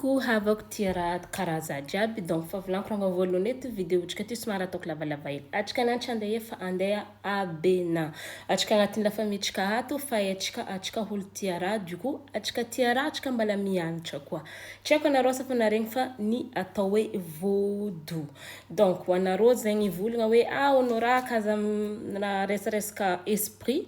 Coucou havako tia ra karaza jiaby donc favilanko ranga voalohany eto video otrika ty somary ataoko lavalava hely atrika ananty andeha efa andeha abena atrika anatin'ny la famille trika ato fa eh atrika atrika holo tia ra du coup atrika tia ra atrika mbala mianatra koa tsy aiko anareo asa fa naregny fa ny atao hoe vodo donc ho anareo zegny hivolagna hoe ah hono ra ka aza miresareska esprit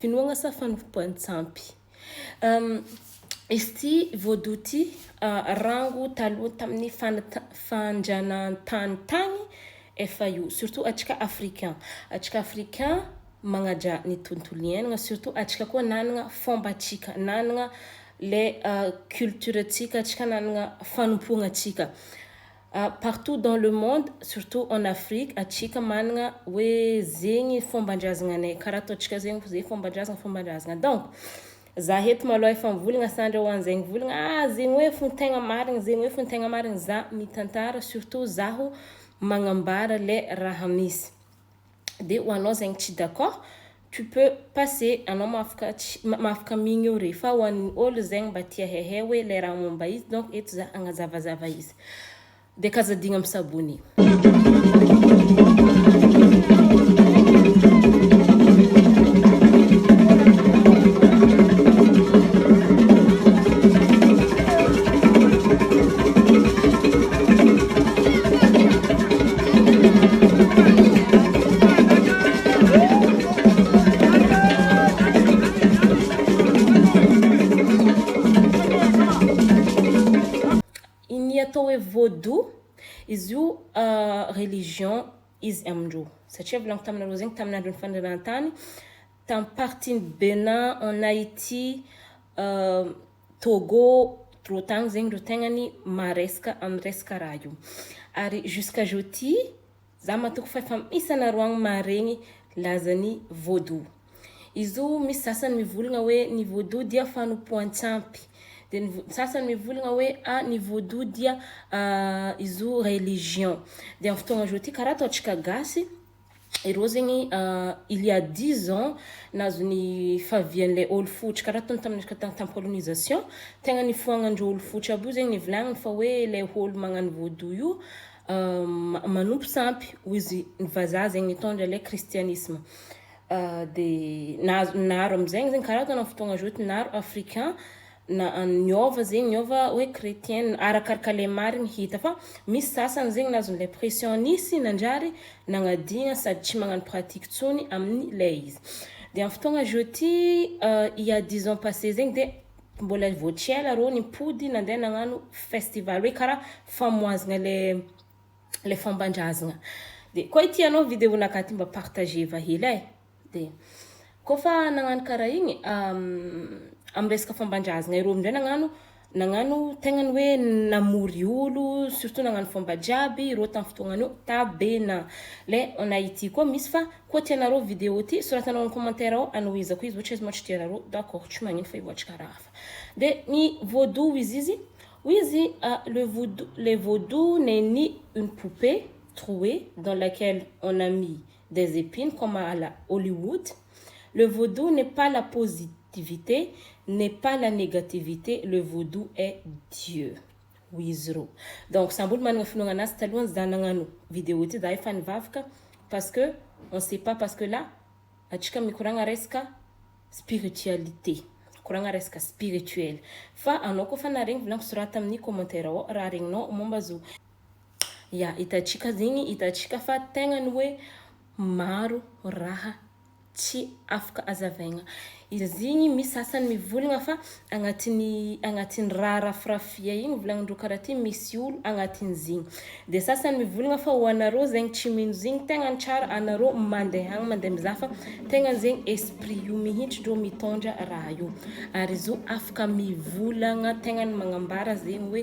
Finoagna sa fanompoan-tsampy? Izy ity voadoha ity rango taloha tamin'ny fandrianan-tany tany efa io surtout antsika africains. Antsika africains magnajà ny tontolo iainana surtout antsika koa nanana fombantsika, nanana Ilay culture tsika tsika nanana fanompoana tsika partout dans le monde surtout en Afrique atsika manana hoe zegny fômbandrazagna anay karaha ataontsika zegny hoe fômbandrazagna fômbandrazagna donc za eto malôha efa mivolagna sandra ho anzegny mivolagna ah zegny hoe fo tegna marigny zegny hoe fo tegna marigny za mitantara surtout zaho magnambara le raha misy. de ho anao zegny tsy d'accord tu peux passer anao mahafaka migny eo re fa ho an'ny olo zegny mba tia hehe hoe le raha momba izy donc eto za agnazavazava izy de kazadigna am s'abonner. Ny atao hoe vaudou, izy io religion izy amin-drô. Satria volagno taminareo zegny tamin'ny andron'ny fanjanahantany, tamin'ny partie-n'i Bénin, en Haïti, Togo reo tany zegny reo tegna ny maresaka am resaka raha io ary jusqu'à jeudi za matoky fa efa misy anareo agny maharegny lazan'ny vaudou izo misy sasany mivolagna hoe ny vaudou dia fanompoantsampy de ny sasany mivolagna hoe a ny vaudou dia izo religion de am fotoagna zao ty kara ataontsika gasy Ireo zegny il ya dix ans nahazo ny fahavian'ilay ol fohotry kara ataony tamin'ny resaka tam- tam- colonisation tegna nifohagnandreo ol fohotry aby io zegny nivolagniny fa hoe le ol magnano vaudou io ma- manompo sampy hoy izy ny vazaha zegny nitondra le kristianisma de nahazo naro amizegny zegny kara ataony am fotoagna zao ty naro africain na an niova zegny niova hoe chretienne arakaraka le marigny hita fa misy sasany zegny nazony le pression nisy nanjary nagnadigna sady tsy magnano pratique tsony aminy le izy de am fotoagna zô ty il ya dix ans passe zegny de mbola vô tsy ela rô nipody nande nagnano festival hoe kara famoazagna le le fômbandrazagna de koa ity anao video naka ty mba partageva hely e. Dia koa fa nagnano karaha igny amin'ny resaka fomban-drazagna ireo amin'izay nagnano nagnano tegna ny hoe namory olo surtout nagnano fomba jiaby ireo tamin'ny fotoagnan'io Tabena le en Haiti koa misy fa koa tianareo video ty soratanao amin'ny commentaire ao anohizako izy ohatra izy moa tsy tianareo d'accord tsy magnino fa hivoatry karaha hafa dia ny vaudou hoy izy izy hoy izy le vaudou le vaudou n'est ni une poupée trouée dans laquelle on a mis des epines comme à la Hollywood, le vaudou n'est pas la positivité n'est pas la négativité le vaudou est Dieu hoy izy roa donc samby olo manana finoagna anazy talohan za nagnano video ty za efa nivavaka parce que on sait pas parce que là atsika mikoragna resaka spiritualité mikoragna resaka spirituel fa anao koa fa naharegny volagniko sorata aminy commentaire ao raha regninao momba zo Ya, hitantsika zegny, hitantsika fa tegna ny hoe maro raha tsy afaka azavaigna. Izy igny misy sasany mivolagna fa agnatin'ny agnatin'ny raha rafirafia igny volagnin-dreo karaha ty misy olo agnatin'izy igny. De sasany mivolagna fa ho anareo zegny tsy mino zigny tegna ny tsara anareo mandeha agny mandeha mizaha fa tegna zegny esprit io mihitsy reo mitondra raha io. Ary izy io afaka mivolagna tegna ny magnambara zegny hoe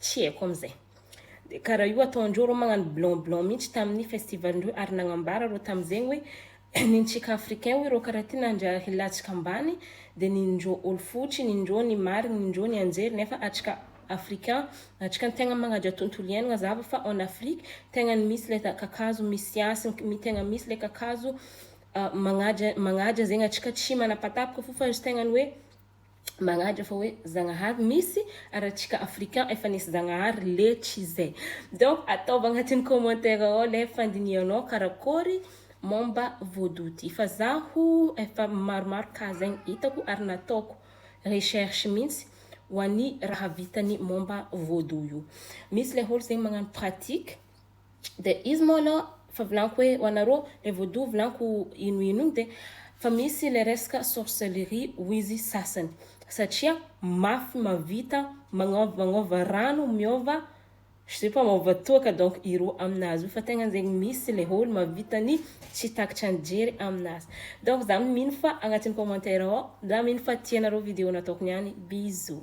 Tsy haiko amin'izay. Dia karaha io ataondreo reo magnano blanc blanc mihitsy tamin'ny festival ndreo ary nagnambara reo tamin'izegny hoe nintsika africain hoy reo karaha ty nandra hilatsaka ambany dia nindreo olo fotsy nindreo ny marigny nindreo ny anjery nefa atsika african atsika no tegna magnaja tontolo iainagna zava fa en afrique tegna ny misy le kakazo misy hasy tegna misy le kakazo magnaja magnaja zegny atsika tsy manapatapaka fo fa izy tegna ny hoe magnadra fa hoe zagnahary misy ary atsika africain efa nisy zagnahary letry zay donc ataovy agnatin'ny commentaire ao le fandinihanao karakory momba vaudou ty fa zaho efa maromaro cas zegny hitako ary nataoko recherche mintsy ho an'ny raha vitany momba vaudou io misy le olo zegny magnano pratique Dia izy moa aloha fa volaniko hoe ho anareo le vaudou volaniko ino ino iny dia fa misy le resaka sorcellerie hoy izy sasany satria mafy mavita magnaova magnaova rano miova je sais pas maova toaka donc iro aminazy io fa tegna zegny misy le olo mavita ny tsy takatra ny jery aminazy donc za mino fa agnatin'ny commentaire ao za mino fa tianareo video nataoko niany bisous.